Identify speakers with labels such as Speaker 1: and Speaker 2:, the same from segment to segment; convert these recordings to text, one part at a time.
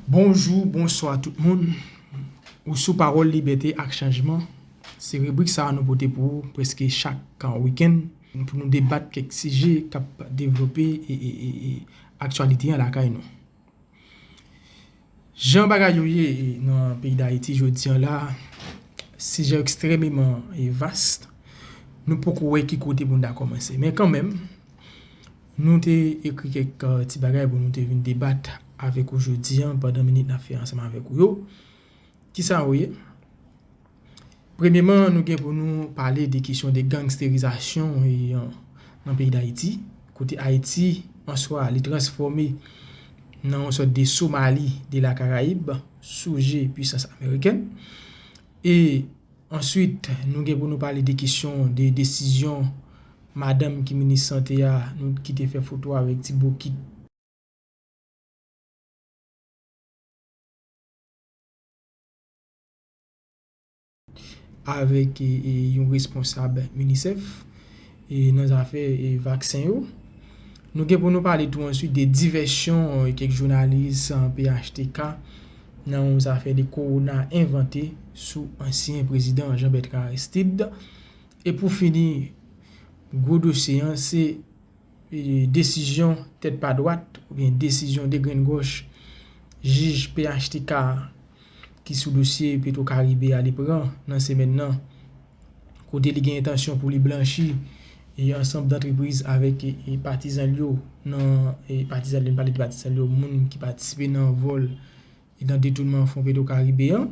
Speaker 1: Bonjou, bonswa tout moun. Ou sou Pawòl Libète ak Chanjman. Se ribrik sa a nou pote pou ou prèske chak wikenn pou nou debat kèk sijè k ap devlope aktyalite an lakay nou. Jan bagay yo ye nan peyi Dayiti jodi an la, sijè yo ekstrememan vast. Nou poko wè ki kote pou nou ta kòmanse. Men kanmenm, nou te ekri kèk ti bagay pou nou te vin debat avèk ou jodi an pandan minit n ap fè ansanm avèk ou yo. Ki sa yo ye? Premyeman nou gen pou nou pale de kesyon de gangsterizasyon nan peyi Dayiti. Kote Ayiti an swa li transfòme nan yon sòt de Somali de la Karayib sou je pwisans Ameriken. E answit nou gen pou nou pale de kesyon de desizyon madanm ki minis sante a nou ki te fè foto avèk ti bokit. avèk yon responsab UNICEF nan zafè vaksen yo. Nou gen pou nou pale tou answit de divèsyon kèk jounalis phtk nan yon zafè de kowona envante sou ansyen prezidan Jean Bertrand Aristide. E pou fini, gwo dosye an se. desizyon tèt pa dwat oubyen desizyon degrenngòch jij phtk ki sou dosye Petwokaribe a li pran nan semèn nan kote li gen entansyon pou li blanchi ansanm dantrepriz avèk patizan l yo nan patizan l yo, m pale de patizan l yo moun ki patisipe nan vòl. e nan detounman fon petwokaribe an,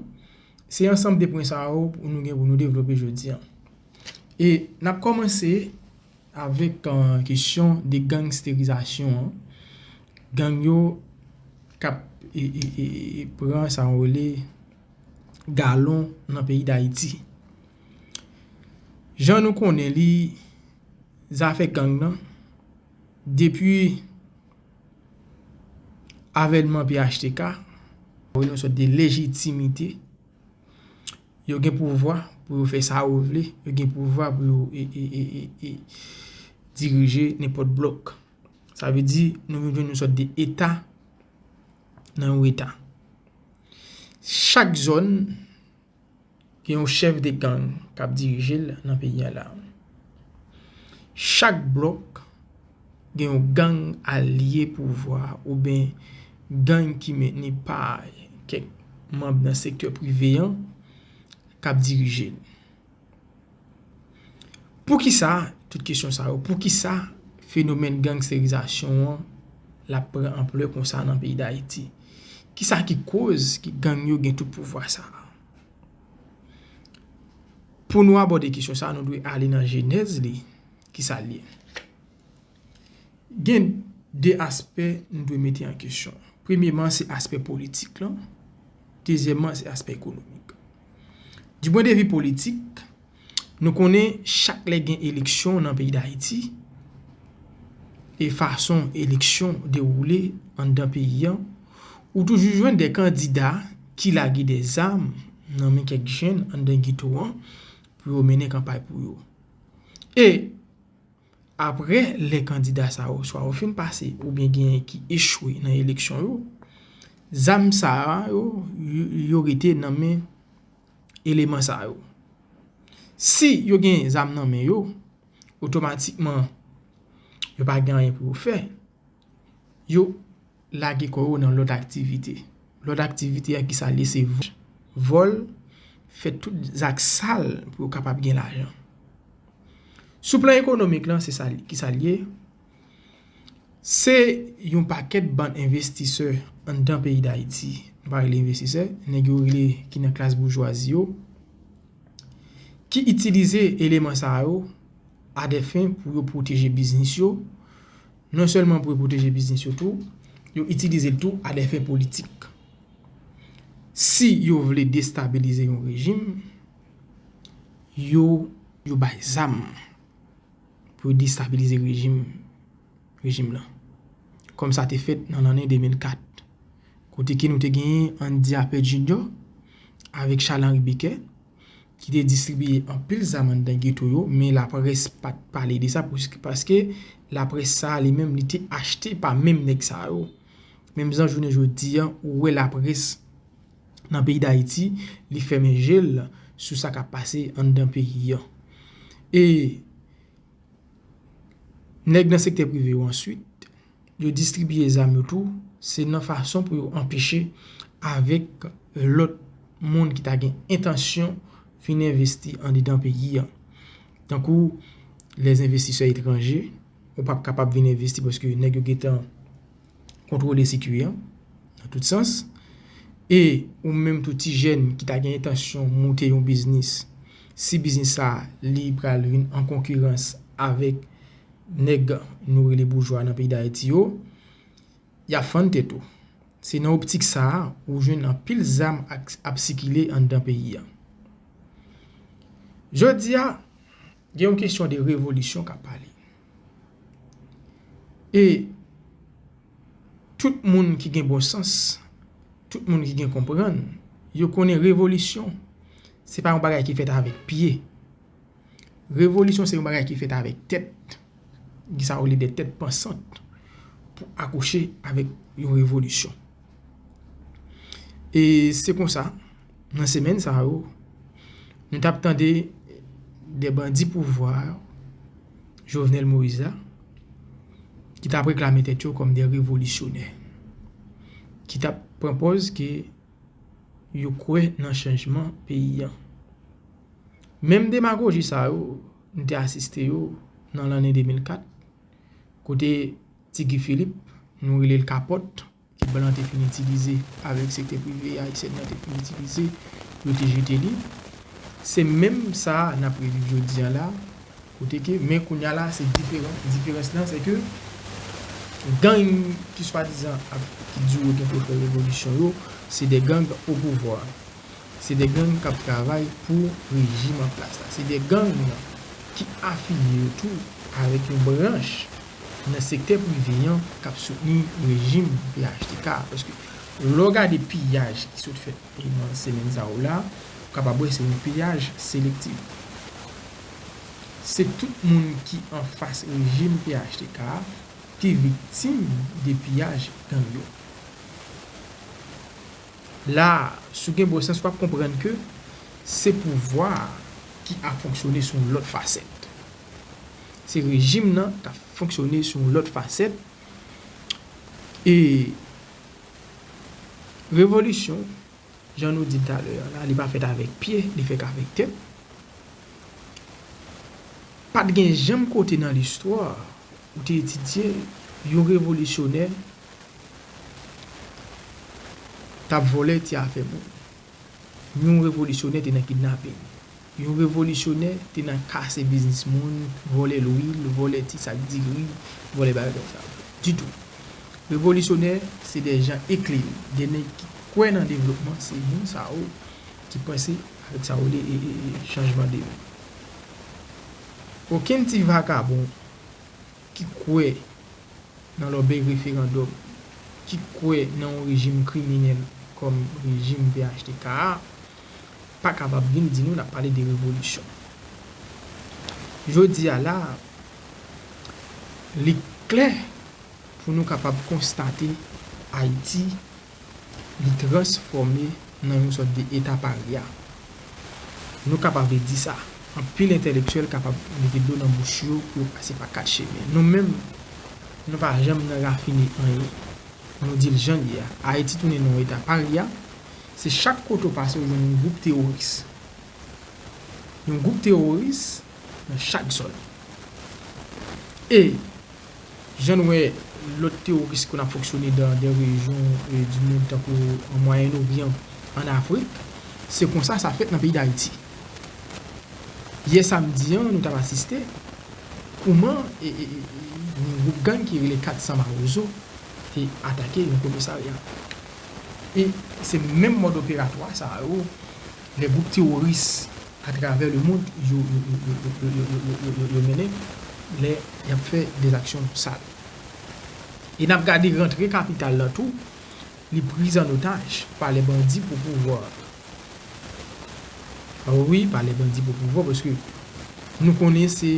Speaker 1: se ansanm de pwen sa yo pou nou gen pou nou devlope jodi an. E n ap kòmanse avèk kesyon de gangsterizasyon an, gang yo k ap pran sa yo rele galon nan peyi Dayiti. Jan nou konnen li, zafè gang nan depi Avènman phtk a voye yon sòt de lejitimite. Yo gen pouvwa pou yo fè sa yo vle. Yo gen pouvwa pou yo dirije nenpòt blòk. Sa vle di nou vin jwenn yon sòt de eta nan yon eta. Chak zòn. gen yon chèf de gang kap dirijel nan peyi an la. Chak blòk gen yon gang alye pouvwa oubyen gang ki mentni pa kèk manb nan sektè prive an kap dirijel. Poukisa, tout kesyon sa yo, poukisa fenomèn gangsterizasyon an l ap pran anplè konsa nan peyi Dayiti? Kisa ki koz ki gang yo gen tout pouvwa sa a? Pou nou abòde kesyon sa a, nou dwe ale nan jenèz li. Kisa l ye? Gen 2 aspè nou dwe mete an kesyon. Premyeman, se aspè politik lan. Dezyèman, se aspè ekonomik. Di pwen de vi politik, nou konnen chak lè gen eleksyon nan peyi Dayiti, e fason eleksyon dewoule anndan peyi an, ou toujou jwenn de kandida ki lage de zam nan men kèk jenn anndan geto an pou yo mennen kanpay pou yo. E, Apre lè kandida sa yo swa yo fin pase oubyen genyen ki echwe nan eleksyon yo, zam sa yo, yo rete nan men eleman sa yo. Si yo gen zam nan men yo, otomatikman yo pa gen anyen pou yo fè. Lage kò ou nan lòt aktivite. Lòt aktivite a ki sa l ye se vòl, vòl, fè tout zak sal pou yo kapab gen lajan. Sou plan ekonomik lan se sa l ye, ki sa l ye? Se yon pakèt bann envestisè anndan peyi Dayiti, m pa rele envestisè, nèg yo rele ki nan klas boujwazi yo, ki itilize eleman sa yo a dè fen pou yo pwoteje biznis yo, Non sèlman pou yo pwoteje biznis yo tou, yo itilize l tou a dè fen politik. Si yo vle destabilize yon rejim, yo yo bay zam pou yo destabilize rejim rejim lan. Kòm sa te fèt nan lanne 2004. Kote ke nou te genyen Andy Apert Junior avèk Charles Henri Bequet. ki te distribiye anpil zam anndan geto yo, men laprès pa t pale de sa paske laprès sa a li menm li te achte pa menm nèg sa yo. Menm jan jounen jodi a ou wè laprès nan peyi Dayiti li fèmen je l sou sa k ap pase anndan peyi an. E nèg nan sektè prive yo answit Yo distribiye zam yo tou, se nan fason pou yo anpeche avèk lòt moun ki ta gen entansyon vin envesti andedan peyi a. Tankou lè envestisè etranje, ou pap kapab vin envesti paske nèg yo gentan kontwole sikui a nan tout sans. E ou menm tou ti jèn ki ta gen entansyon moute yon biznis, si biznis sa li pral vin an konkirans avèk Nèg nou rele boujwa nan peyi Dayiti yo, y ap fann tèt ou. Se nan optik sa a ou jwenn anpil zam ap sikile anndan peyi a. Jodi a, gen yon kesyon de revolisyon k ap pale. E tout moun ki gen bon sans, tout moun ki gen konprann, yo konnen revolisyon se pa yon bagay ki fèt avèk pye. Revolisyon se yon bagay ki fèt avèk tèt, ki sa yo rele de tèt pansant pou akouche avèk yon revolisyon. E se konsa, nan semèn sa yo, nou t ap tande de bandi pouvwa yo, Jovenel Moïse la, ki t ap reklame tèt yo kòm de revolisyonè, ki t ap pran pòz ke yo kwè nan chanjman peyi an. Menm demagoji sa yo, nou te asiste yo nan lanne 2004, kote Ti Guy Philippe, nou rele l Kapòt, ke blan te fin itilize avèk sektè prive ayisyèn nan te fin itilize, yo te jete li. Se menm sa a n ap reviv jodi a la, Kote ke, men kounya la se diferan, diferans lan se ke gang ki swadizan ap, ki di yo gen pou yo fè revolisyon yo, se de gang opouvwa. Se de gang kap travay pou rejim an plas la. Se de gang ki afilye yo tou avèk yon branch nan sektè prive an kap soutni rejim phtk a. Paske lè w gade piyaj ki sot fèt nan semèn sa yo la, ou kapab wè se yon piyaj selektif. se tout moun ki anfas rejim phtk a ki viktim de piyaj gang yo. La a, si w gen bon sans w ap konprann ke se pouvwa a ki ap fonksyone sou yon lòt fasèt. Se rejim nan k ap fonksyone sou yon lòt fasèt e revolisyon. Jan nou di talè a la, li pa fèt avèk pye, li fèk avèk tèt. Pa t gen janm kote nan listwa ou te etidye yon revolisyonè t ap vòlè ti afè moun, yon revolisyonè te nan kidnaping. Yon revolisyonè te nan kase biznis moun, vòlè lwil, vòlè ti sak diri, vòlè bagay konsa. Ditou. Revolisyonè se de jan eklere, de nèg ki kwè nan devlopman, se moun sa yo ki panse avèk sa yo rele chanjman de moun. Okenn ti vakabon ki kwè nan lòbèy referandòm, ki kwè nan yon rejim kriminèl kòm rejim phtk a, pa kapab vin di nou l ap pale de revolisyon. Jodi a la a, li klè pou nou kapab konstate Ayiti li transfòme nan yon sòt de eta parya. Nou kapab di sa. Anpil entelektyèl kapab mete dlo nan bouch yo pou yo pase pa kat chemen. Nou menm, nou pa janm nan rafine anyen. Nou di l jan l ye a. Ayiti tounen nan yon eta parya. Se chak kote ou pase ou jwenn yon gwoup teworis. Yon gwoup teworis nan chak zòn. E jan nou wè lòt teworis ki konn ap fonksyone dan dè rejyon di mond tankou an Mwayen Oryan, an Afrik, se konsa sa fèt nan peyi Dayiti. Yè samdi an nou t ap asiste kouman yon gwoup gang ki rele 400 Mawozo te atake yon komisarya. E se menm mòd operatwa sa yo lè gwoup teworis atravè lemond yo mennen lè y ap fè de aksyon sal. E n ap gade rantre kapital la tou li priz an otaj pa lè bandi pou pouvwa. Wi pa lè bandi pou pouvwa paske nou konnen se.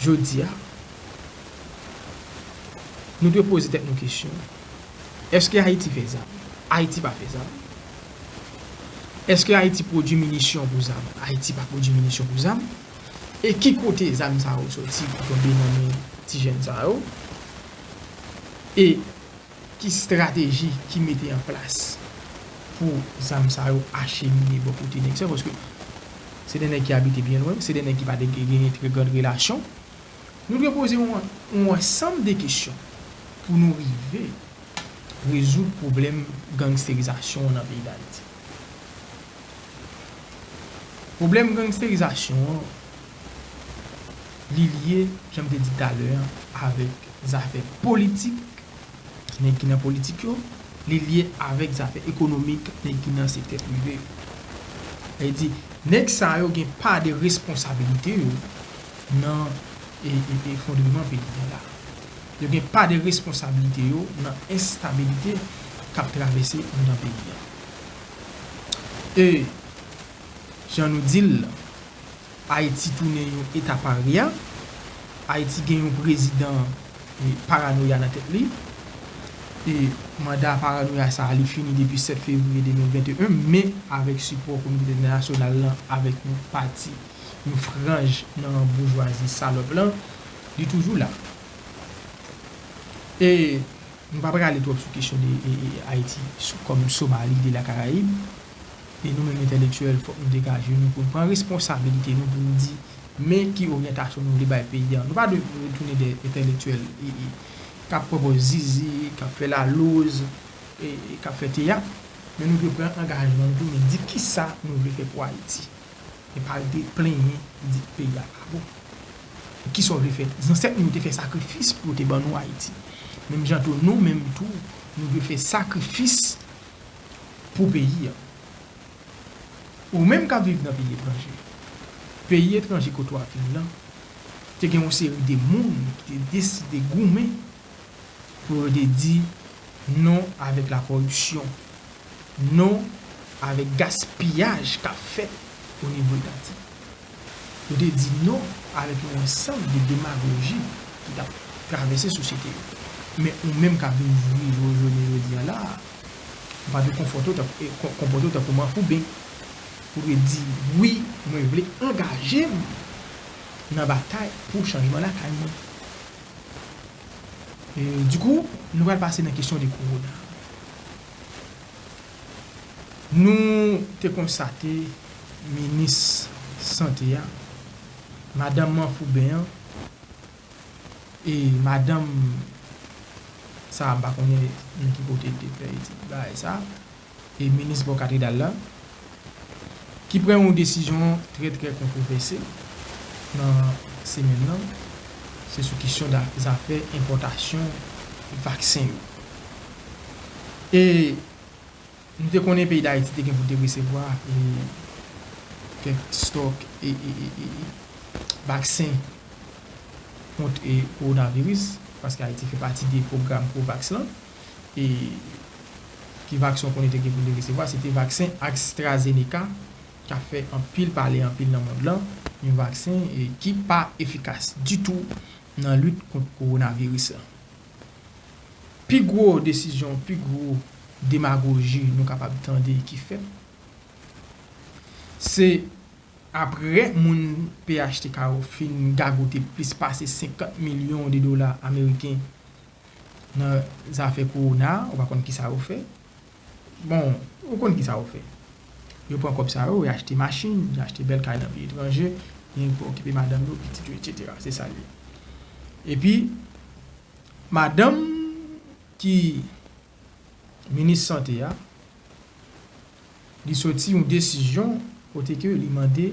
Speaker 1: Jodi a, nou dwe poze tèt nou kesyon, Èske Ayiti fè zam? Ayiti pa fè zam. Èske Ayiti pwodui minisyon pou zam? Ayiti pa pwodui minisyon pou zam. E ki kote zam sa yo soti pou tonbe nan men ti jèn sa yo? E. Ki strateji ki mete an plas pou zam sa yo achemine bò kote nèg sa yo? Paske se 2 nèg ki abite byen lwen, se 2 nèg ki pa te genyen trè grand relasyon. Nou dwe poze yon ansanm de kesyon pou nou rive rezoud pwoblèm gangsterizasyon an nan peyi Dayiti. Pwoblèm gangsterizasyon an, li lye, jan m te di talè an, avèk zafè politik, nèg ki nan politik yo, li lye avèk zafè ekonomik, nèg ki nan sektè prive yo. Sa vle di, nèg sa yo gen pa de responsabilite yo nan efondreman peyi a la. Yo gen pa de responsabilite yo nan enstabilite k ap travèse anndan peyi a. E jan nou di l la, Ayiti tounen yon eta parya, Ayiti gen yon prezidan paranoya nan tèt li, e manda paranoya sa a li fini depi 7 fevriye 2021, men avèk sipò kominote entènasyonal lan, avèk yon pati, yon franj nan boujwazi salòp lan, li toujou la. E Nou pa prale twòp sou kesyon de Ayiti kòm Somali de la Karayib. E nou menm entèlektyèl fòk nou degaje nou pou nou pran responsabilite nou pou nou di men ki oryantasyon nou vle bay peyi a. Nou pa dwe tounen de entèlektyèl k ap pran pòz zizi, k ap fè laloz, k ap fè teyat. Men nou dwe pran angajman nou pou nou di kisa nou vle fè pou Ayiti. Epi al te plenyen li di peyi a pa bon. Kisa w vle fè? Zansèt nou yo te fè sakrifis pou yo te ban nou Ayiti. Menm jan tou nou menm tou nou dwe fè sakrifis pou peyi a. Ou menm k ap viv nan peyi etranje, peyi etranje kote w ap viv lan te gen yon seri de moun ki te deside goumen. pou yo te di non avèk la kòripsyon, non avèk gaspiyaj kap fèt o nivo etati. Yo te di non avèk yon ansanm de demagoji ki tap travèse sosyete yo. Men ou menm kap vin jwi jou jounen jodi an la a, ou pa dwe konfòte w, konpòte w tankou manfouben. Ou dwe di wi mwen vle angaje m nan batay pou chanjman lakay mwen. Du coup, nou pral pase nan kesyon de kowona. Nou te konstate minis sante a, madan manfouben an, e madan sa m pa konnen nan ki kote l te fè etid bagay sa. e minis bò katredal la, ki pran yon desizyon trè trè kontwovèse nan semèn nan, se sou kesyon zafè enpòtasyon vaksen yo. E nou te konnen peyi Dayiti te gen pou l te resevwa kèk stòk vaksen kont kowonaviris, paske Ayiti fè pati de pwogram COVAX lan. e ki vaksen w konnen te gen pou li resevwa, se te vaksen AstraZeneca k ap fè anpil pale anpil nan mond lan, yon vaksen ki pa efikas ditou nan lit kont kowonaviris la. Pi gwo desizyon, pi gwo demagoji nou kapab tande ki fèt, se aprè moun phtk yo fin gagote plis pase 50 milyon de dola ameriken Nan zafè kowona ou pa konn kisa yo fè. Bon ou konn kisa yo fè. Yo pran kòb sa yo yo achte machin, yo achte bèl kay nan peyi etranje, genyen ki pou okipe madanm yo, pitit yo etsetera. Se sa l ye. Epi madanm ki minis sante a li soti yon desizyon kote ke li mande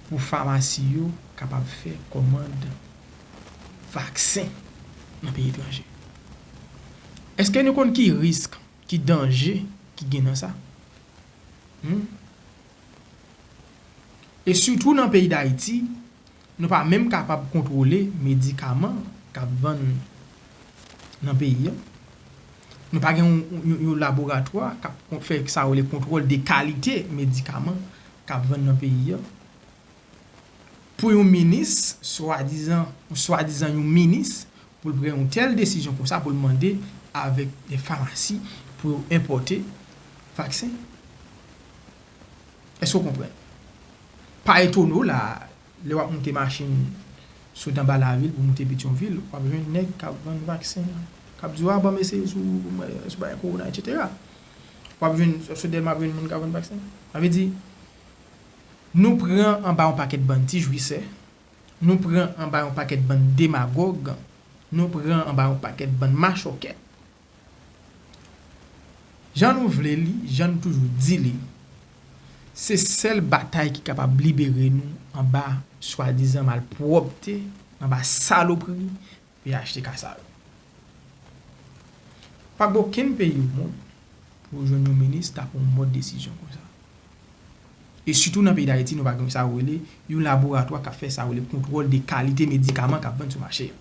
Speaker 1: pou famasi yo kapab fè kòmand vaksen nan peyi etranje. Eske nou konn ki risk, ki danje ki gen nan sa? Humm. E sitou nan peyi Dayiti, Nou pa menm kapab kontwole medikaman k ap vann nan peyi a. Nou pa gen yon laboratwa k ap fè sa yo rele kontwòl de kalite medikaman k ap vann nan peyi a. Pou yon minis, swadizan, yon swadizan yon minis, pou l pran yon tèl desizyon konsa, pou l mande avèk de famasi pou yo enpòte vaksen. Èske w konprann? Pa etone w la a, lè w ap moute machin sot anba lavil pou moute Petyonvil, w ap jwenn nèg k ap vann vaksen, k ap di w a ban m eseye sou bagay kowona etsetera. W ap jwenn, sou Dèlma w ap jwenn moun k ap vann vaksen. Sa vle di, nou pran anba yon pakèt bann ti jwisè, nou pran anba yon pakèt bann demagòg, nou pran anba yon pakèt bann machòkè Jan nou vle li, jan nou toujou di li, se sèl batay ki kapab libere nou anba swadizan malpwòpte, anba salopri phtk sa yo. Pa gen okenn peyi omonn pou ou jwenn yon minis ta pran yon mòd desizyon konsa. E sitou nan peyi Dayiti nou pa gen sa yo rele yon laboratwa k ap fè sa yo rele kontwòl de kalite medikaman k ap vann sou mache a.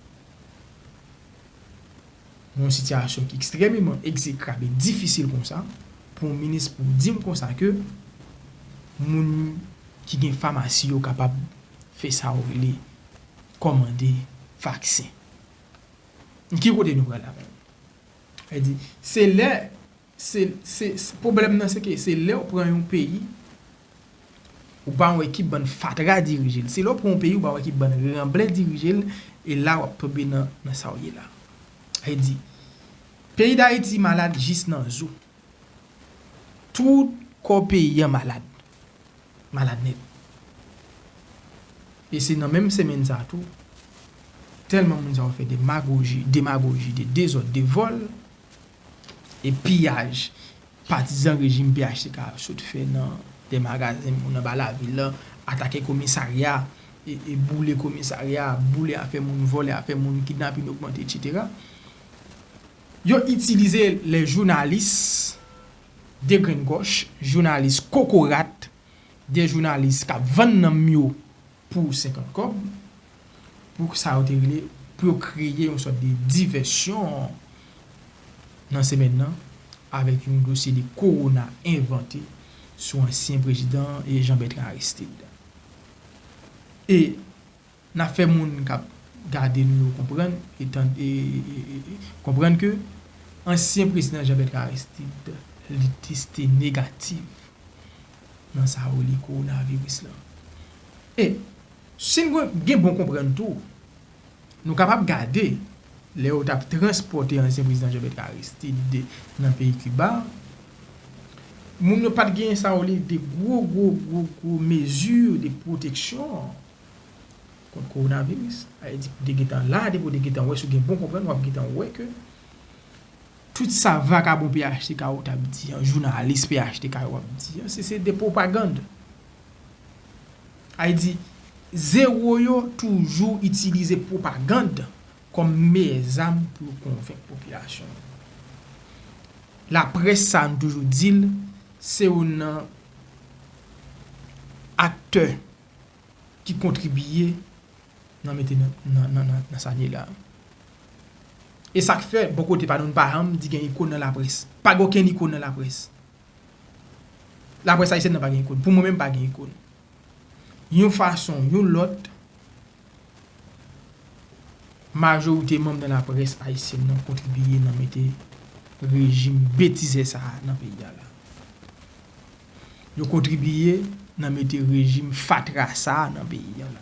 Speaker 1: Nan yon sitiyasyon ki ekstrememan ekzekrab e difisil konsa, pou yon minis pou di m konsa ke moun ki gen famasi yo kapab fè sa ou rele kòmande vaksen. Ki kote nou pral la menm? Sa vle di, se lè. Se pwoblèm nan se ke se lèw pran yon peyi ou pa wè ki bann fatra dirijel. Se lèw pran yon peyi ou pa wè ki bann ranblè dirijel e la wap tonbe nan sa ou ye la. Vle di peyi dayiti malad jis nan zo. Tout kò peyi an malad. Malad nèt. E se nan menm semenn sa tou tèlman moun sa yo fè demagoji, demagoji de dezòd, de vòl. E piyaj patizan rejim phtk a sot fè nan de magazen moun anba lavil la, atake komisarya, boule komisarya, boule afè moun, vòlè afè moun, kidnapin ogmante etc. Yo itilize lè jounalis degrenngòch, jounalis kokorat, de jounalis k ap vann nanm yo pou 50 kòb, pou sa yo te rele, pou yo kreye yon sòt de divèsyon nan semèn nan, avèk yon dosye de kowona envante sou ansyen prezidan Jean Bertrand Aristide. E, n ap fè moun k ap gade nou yo konprann, e tande, konprann ke ansyen prezidan Jean Bertrand Aristide, li teste negatif. nan sa yo rele kowonaviris lan. E, si n gen bon konprann tou, nou kapab gade lè yo t ap transpòte ansyen prezidan Jean Bertrand Aristide nan peyi Kiba, moun yo pa t gen sa yo rele de gwo gwo gwo gwo mezi de pwoteksyon kont kowonaviris. Sa vle di pou te gen tan la depi w te gen tan wè si w gen bon konprann w ap gen tan wè ke Tout sa vakabon phtk yo tap di an, jounalis phtk yo ap di an, se se de pwopagand. Ay di, zewo yo toujou itilize pwopagand kòm meyè zam pou yo konvenk popilasyon an. Laprès sa nou toujou di l, se youn nan aktè ki kontribiye nan mete nan sa n ye la. E sa k fè, bò kote pa nou, nou pa janm di gen ikon nan laprès. Pa gen okenn ikon nan laprès. Laprès ayisyèn nan pa gen ikon. Pou mwen menm pa gen ikon. Yon fason, yon lòt, majorite manm nan laprès ayisyèn nan kontribiye nan mete rejim betizè sa a nan peyi a la. Yo kontribiye nan mete rejim fatra sa a nan peyi an.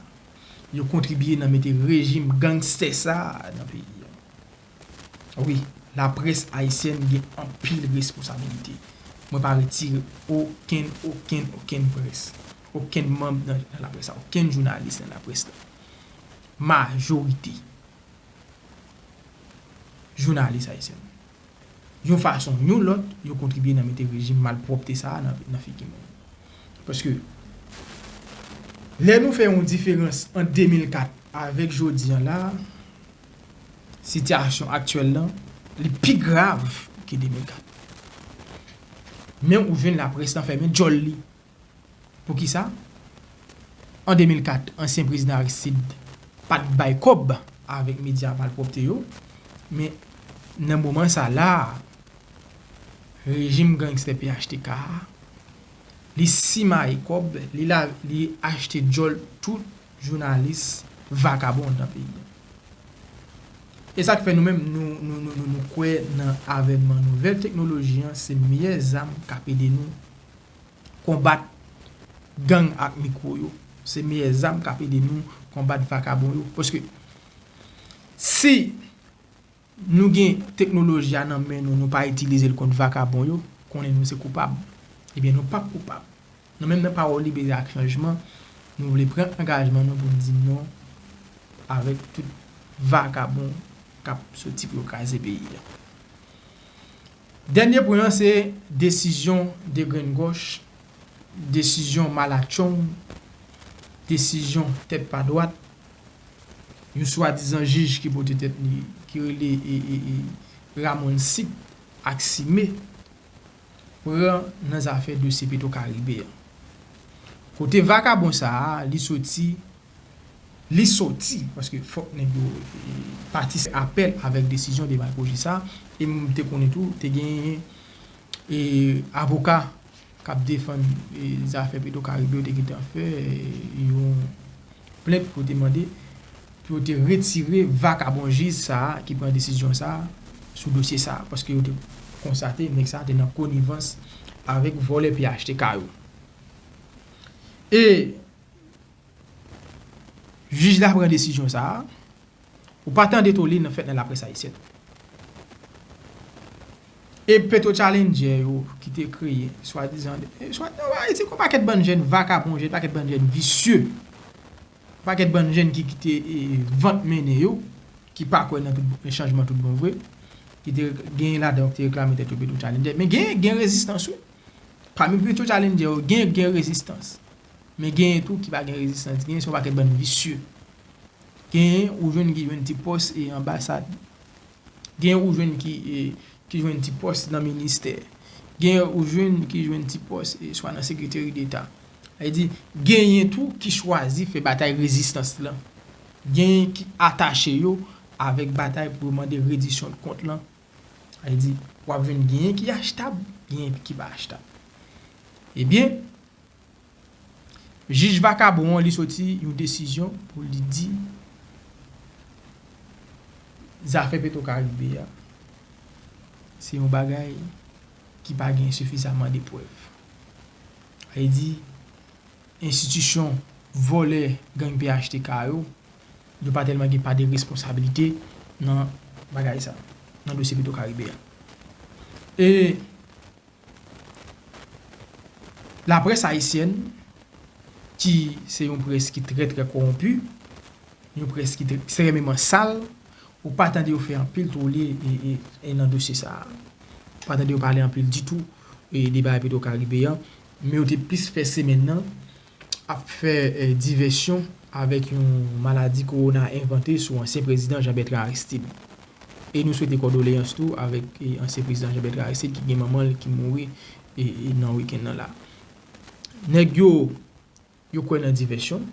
Speaker 1: Yo kontribiye nan mete rejim gangstè sa a nan peyi an. Wi, laprès ayisyèn gen anpil responsabilite. Mwen pa retire okenn, okenn, okenn près, okenn manm nan laprès la, okenn jounalis nan laprès la. Majorite jounalis ayisyèn. yon fason ou yon lòt, yo kontribye nan mete rejim malpwòpte sa a nan figi moun. Paske, lè nou fè yon diferans ant 2004 avèk jodi an la a, sitiyasyon aktyèl lan, li pi grav ke 2004. Men ou jwenn laprès lan fèmen djòl li. Poukisa? An 2004, ansyen prezidan Aristide pa t bay kòb avèk medya malpwòpte yo, men nan moman sa la a, rejim gangstè phtk a, li simaye kòb, li achte djòl tout jounalis vakabon nan peyi a. E sa k fè nou menm nou kwè nan avènman nouvèl teknoloji an se meyè zam k ap ede nou Konbat gang ak mikwo yo se meyè zam kap ede nou konbat vakabon yo paske si nou gen teknoloji a nan men nou nou pa itilize l kont vakabon yo konnen nou se koupab ebyen nou pap koupab nou menm nan pawòl libere ak chanjman nou vle pran angajman nou poun di non avèk tout vakabon kap soti pou yo kraze peyi a. Dènye pwen an se desizyon degrenngòch, desizyon malatchong, desizyon tèt pa dwat, yon swadizan jij ki pote tèt li, ki rele Ramon Sip ak Sime, pran nan zafè dosye Petro Caribe an. Kote vakabon sa a, li soti li soti paske fòk nèg yo pati se apèl avèk desizyon de maykoji sa e m te konnen tou te genyen e avoka k ap defann zafè petro karibe yo te gentan fè yon plent pou te mande pou yo te retire vakabon jij sa ki pran desizyon sa sou dosye sa paske yo te konstate nèg sa te nan konivans avèk vòlè phtk yo e Jij la pran desizyon sa a, ou pa tande tole nan fèt nan laprès ayisyèn. E petwotchalenndjè yo ki te kreye swadizan, se yon pakèt bann jenn vakabon, yon pakèt bann jenn visye, yon pakèt bann jenn ki kite vant mennen yo, ki pa kwè nan chanjman tout bon vre, ki te gen ladan yo ki te reklame tèt yo petwotchalenndjè. Men gen rezistans wi. Pami petwotchalenndjè yo gen rezistans. Men genyen tou ki pa gen rezistans, genyen se yon pakèt bann visye. Genyen ou jwenn ki jwenn ti pòs e anbasad. Genyen ou jwenn ki ki jwenn ti pòs nan ministè. Genyen ou jwenn ki jwenn ti pòs e swa nan sekreteri deta. Sa vle di genyen tou ki chwazi fè batay rezistans lan. Genyen ki atache yo avèk batay pou yo mande redisyon de kont lan. Sa vle di wap jwenn genyen ki achtab, genyen ki pa achtab. Ebyen, Jij vakabon an li soti yon desizyon pou li di zafè petro karibe a se yon bagay ki pa gen sifizaman de prèv sa vle di enstitisyon vòlè gang phtk yo yo pa tèlman gen pa de responsabilite nan bagay sa nan dosye petro karibe a e Laprès ayisyèn ki se yon près ki trè trè kowonpi, yon près ki ekstrèmeman sal, ou pa tande yo fè anpil twole nan dosye sa a. Ou pa tande yo pale anpil ditou de bagay Petro Karibe an, men yo te plis fè semèn nan ap fè divèsyon avèk yon maladi kowona envante sou ansyen prezidan Jean Bertrand Aristide. E nou swete kòdoleyans tou avèk ansyen prezidan Jean Bertrand Aristide ki gen manman l ki mouri nan wikenn nan la. Nèg yo, yo kwè nan divèsyon,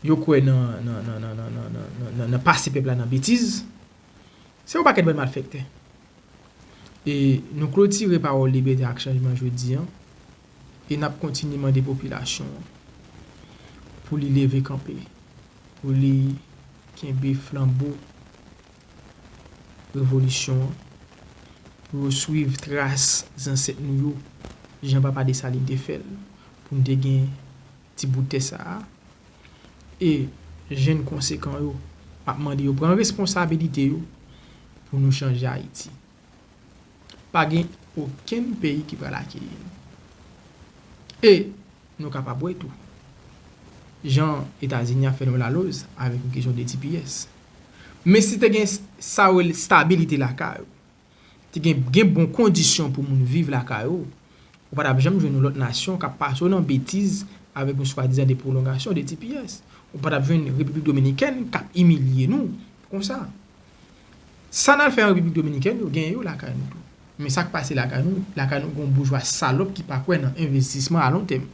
Speaker 1: yo kwè nan pase pèp la nan betiz. Se yon pakèt bann malfèktè. E nou klotire pawòl Libète ak Chanjman jodi an E n ap kontinye mande popilasyon an pou li leve kanpe, pou li kenbe flanbo revolisyon an, pou yo swiv tras zansèt nou yo jan papa Desalin te fè l, pou n te gen ti bout tè sa a. E jenn konsekan yo, m ap mande yo pran responsabilite yo pou nou chanje Ayiti. pa gen okenn peyi ki pral akeyi nou. E nou kapab wè tou, jan Etazini ap fè nou laloz avèk yon kesyon de tps. Men si te gen sa yo rele stabilite lakay ou, te gen gen bon kondisyon pou moun viv lakay ou, ou pa tap janm jwenn yon lòt nasyon kap pase w nan betiz avèk yon swadizan de pwolongasyon de tps. Ou pa tap jwenn Repiblik Dominikèn kap imilye nou konsa. Sa n al fè an Repiblik Dominikèn yo genyen yo lakay nou tou. Men sa k pase lakay nou, lakay nou gen yon boujwa salòp ki pa kwè nan envestisman alontèm.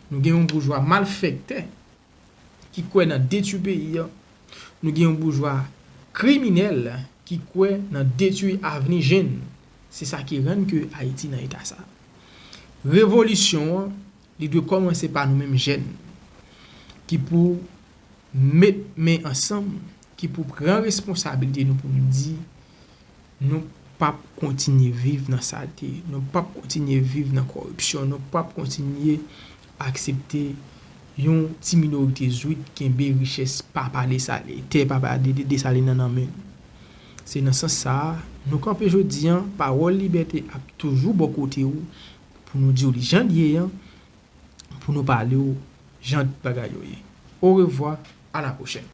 Speaker 1: Nou gen yon boujwa malfèktè ki kwè nan detwi peyi an. Nou gen yon boujwa kriminèl ki kwè nan detwi avni jenn. Se sa ki rann ke Ayiti nan eta sa. Revolisyon an Li dwe kòmanse pa nou menm jèn ki pou met men ansanm, ki pou pran responsabilite nou pou nou di nou pap kontinye viv nan salte, nou pap kontinye viv nan kòripsyon, nou pap kontinye aksepte yon ti minorite zwit kenbe richès papa Desalin, tè papa Desalin nan nan men l. Se nan sans sa a nou kanpe jodi an, pawòl libète ap toujou bò kote ou pou nou di w li jan l ye an, pou nou pale w jan bagay yo ye. Orevwa, a la pwochèn.